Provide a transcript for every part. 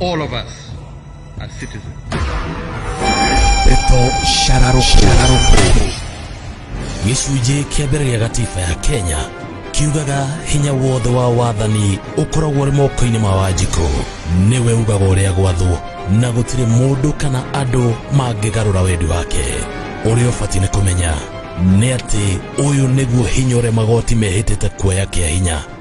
All of us are citizens. Pepo Shararuku gĩcunjĩ kĩa mbere gĩa gatiba ya Kenya kiugaga hinya wothe wa wathani ũkoragwo ũrĩ moko-inĩ ma Wanjikũ nĩwe ugaga ũrĩa gwathwo na gũtirĩ mũndũ kana andũ mangĩgarũra wendi wake ũrĩa ũbatiĩ nĩ kũmenya nĩ atĩ ũyũ nĩguo hinya ũrĩa magoti mehĩtĩte kuoya kĩa hinya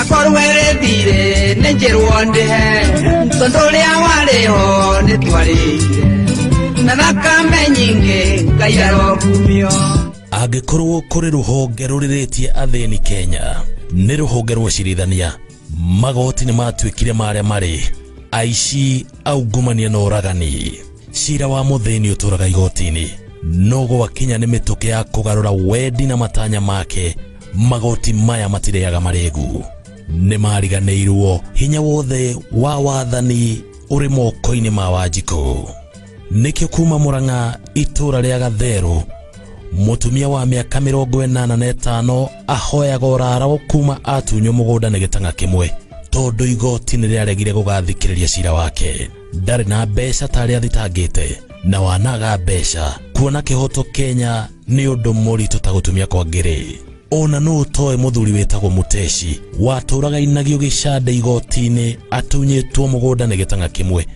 akor werethire nĩ njĩrwo ndĩhe tondũ ũrĩa warĩ ho nĩ twarĩire na thakame nyingĩ ngai arokumio angĩkorwo kũrĩ rũhonge rũrĩrĩtie athĩni kenya nĩ rũhonge rwa ũcirithania magoti nĩ matuĩkire marĩa marĩ aici aungumania na ũragani cira wa mũthĩni ũtũraga igoti-inĩ no gwakinya nĩ mĩtũkĩ ya kũgarũra wendi na matanya make magoti maya matireaga maregu nĩ mariganĩirwo hinya wothe wa wathani ũrĩ moko-inĩ ma wanjikũ nĩkĩo kuma mũrang'a itũra rĩa gatherũ mũtumia wa mĩaka mĩrongo ĩnana na ĩtano ahoyaga ũrarao kuma atunywo mũgũnda nĩ gĩtang'a kĩmwe tondũ igoti nĩ rĩaregire gũgathikĩrĩria cira wake ndarĩ na mbeca ta arĩa athitangĩte na wanaga mbeca kuona kĩhoto kenya nĩ ũndũ mũritũ ta gũtumia kwa ngĩrĩ ona nũ ũtoĩ mũthuri wĩtagwo mũteci watũraga inagio gĩcande igoti-inĩ atunyĩtwo mũgũnda nĩ gĩtanga kĩmwe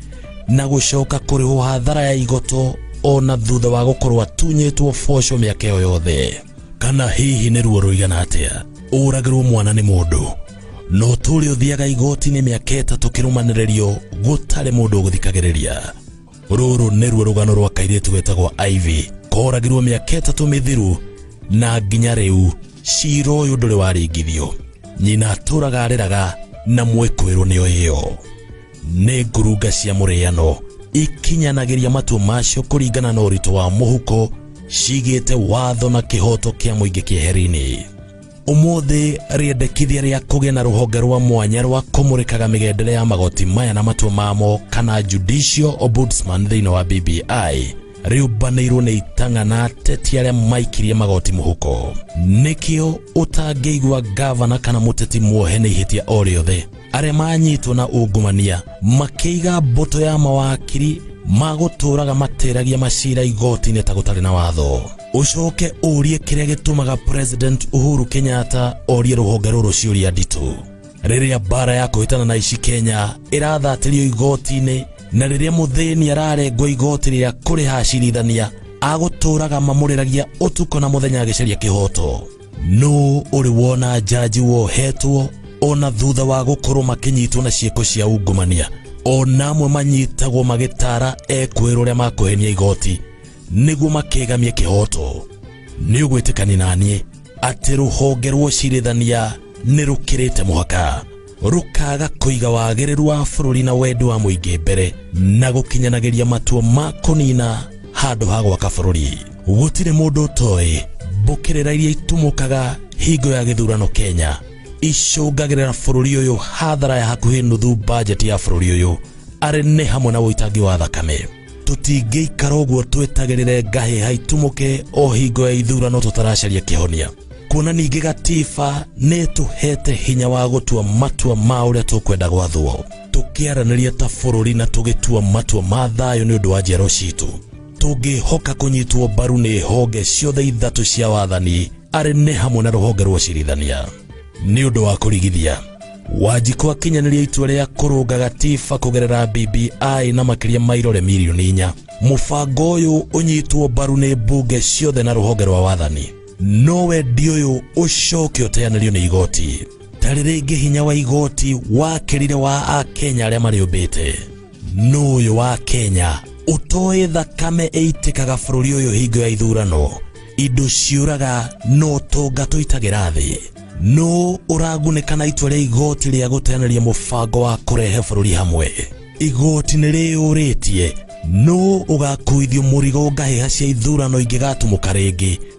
na gũcoka kũrĩhwo hathara ya igoto ona thutha wa gũkorwo atunyĩtwo boco mĩaka ĩyo yothe kana hihi nĩ ruo rũigana atĩa ũragĩrwo mwana nĩ mũndũ no tũrĩ ũthiaga igoti-inĩ mĩaka ĩtatũ kĩrũmanĩrĩrio gũtarĩ mũndũ ũgũthikagĩrĩria rũrũ nĩruo rũgano rwa kairĩtu getagwo Ivy koragirwo mĩaka ĩtatũ mĩthiru na nginya rĩu cira ũyũ ndũrĩ waringithio nyina atũraga arĩraga na mwĩkũĩrwo nĩyo ĩyo nĩ ngurunga cia mũrĩano ikinyanagĩria matua macio kũringana na ũritũ wa mũhuko cigĩte watho na kĩhoto kĩa mũingĩ kĩeherinĩ Ũmũthĩ rĩendekithia rĩa kũgĩa na rũhonge rwa mwanya rwa kũmũrĩkaga mĩgendere ya magoti maya na matua mamo kana judicial ombudsman thĩinĩ wa BBI rĩũmbanĩirwo nĩ itang'a na ateti arĩa maikirie magoti mũhuko. Nĩkĩo ũtangĩigua gavana kana mũteti muohe nĩ ihĩtia o rĩothe arĩa manyitwo na ungumania makĩiga mbũtũ ya mawakiri magũtũũraga matĩragia macira igoti-inĩ ta gũtarĩ na watho ũcoke ũrie kĩrĩa gĩtũmaga president uhuru kenyatta orie rũhonge rũrũ ciũria nditũ rĩrĩa mbara ya kũhĩtana na ici kenya ĩrathatĩrio igoti-inĩ na rĩrĩa mũthĩni ararengwo igoti rĩa kũrĩha acirithania agũtũũraga mamũrĩragia ũtukũ na mũthenya agĩcaria kĩhoto nũ ũrĩ wona njanji wohetwo ona thutha wa gũkorwo makĩnyitwo na ciĩko cia ungumania ona amwe manyitagwo magĩtara ekwĩra ũrĩa makũhenia igoti nĩguo makegamie kĩhoto nĩ ũgwĩtĩkani na niĩ atĩ rũhonge rwa ũcirithania nĩ rũkĩrĩte mũhaka rũkaga kũiga wagĩrĩru wa bũrũri na wendi wa mũingĩ mbere na gũkinyanagĩria matua ma kũnina handũ ha gwaka bũrũri gũtirĩ mũndũ ũtoĩ mbũkĩrĩra iria itumũkaga hingo ya gĩthurano kenya icũngagĩrĩra bũrũri ũyũ hathara ya hakuhĩ nuthu bajeti ya bũrũri ũyũ arĩ nĩ hamwe na ũitangi wa thakame tũtingĩikara ũguo twetagĩrĩre ngahĩ haitumuke o hingo ya ithurano tũtaracaria kĩhonia kuona ningĩ gatiba nĩ tũhete hinya wa gũtua matua ma ũrĩa tũkwenda gwathwo tũkĩaranĩria ta bũrũri na tũgĩtua matua ma thayũ nĩ ũndũ wa njiaro citũ tũngĩhoka kũnyitwo mbaru nĩ honge ciothe ithatũ cia wathani arĩ nĩ hamwe na rũhonge rwa ũcirithania nĩ ũndũ wa kũrigithia wanjikũ akinyanĩria itua rĩa kũrũnga gatiba kũgerera bbi na makĩria ma irore mirioni inya mũbango ũyũ ũnyitwo mbaru nĩ mbunge ciothe na rũhonge rwa wathani no wendi ũyũ ũcoke ũteanĩrio nĩ igoti tarĩ rĩngĩ hinya wa igoti wakĩrire wa akenya arĩa marĩũmbĩte nũ ũyũ wa kenya ũtoĩ thakame ĩitĩkaga bũrũri ũyũ hingo ya ithurano indo ciũraga no tonga tũitagĩra thĩ nũ ũragunĩka na itua rĩa igoti rĩa gũteanĩria mũbango wa kũrehe bũrũri hamwe igoti nĩ rĩyũrĩtie nũ ũgakuithio mũrigo ngahĩha cia ithurano ingĩgatũmũka rĩngĩ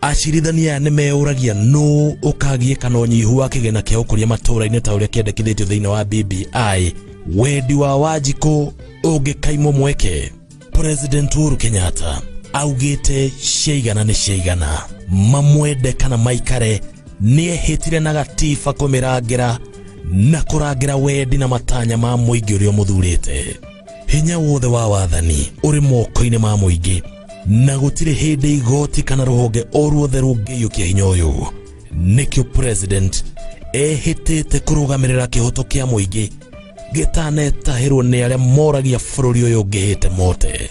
Acirithania aya nĩmeyũragia nũ ũkagiĩka na ũnyihu wa kĩgĩna kĩa ũkũria matũũra-inĩ ta ũrĩa kĩendekithĩtio thĩinĩ wa BBI. Wendi wa Wanjikũ ũngĩkaimwo mweke. President Uhuru Kenyatta augĩte ciaigana nĩ ciaigana, mamwende kana maikare, nĩehĩtire na gatiba kũmĩrangĩra na kũrangĩra wendi na matanya ma mũingĩ ũrĩa ũmũthurĩte. hinya wothe wa wathani ũrĩ moko-inĩ ma mũingĩ na gũtirĩ hĩndĩ igoti kana rũhonge o ruothe rũngĩiyũkia hinya ũyũ nĩkĩo president ehĩtĩte kũrũgamĩrĩra kĩhoto kĩa mũingĩ gĩtanetahĩrwo nĩ arĩa moragia bũrũri ũyũ ngĩhĩte mote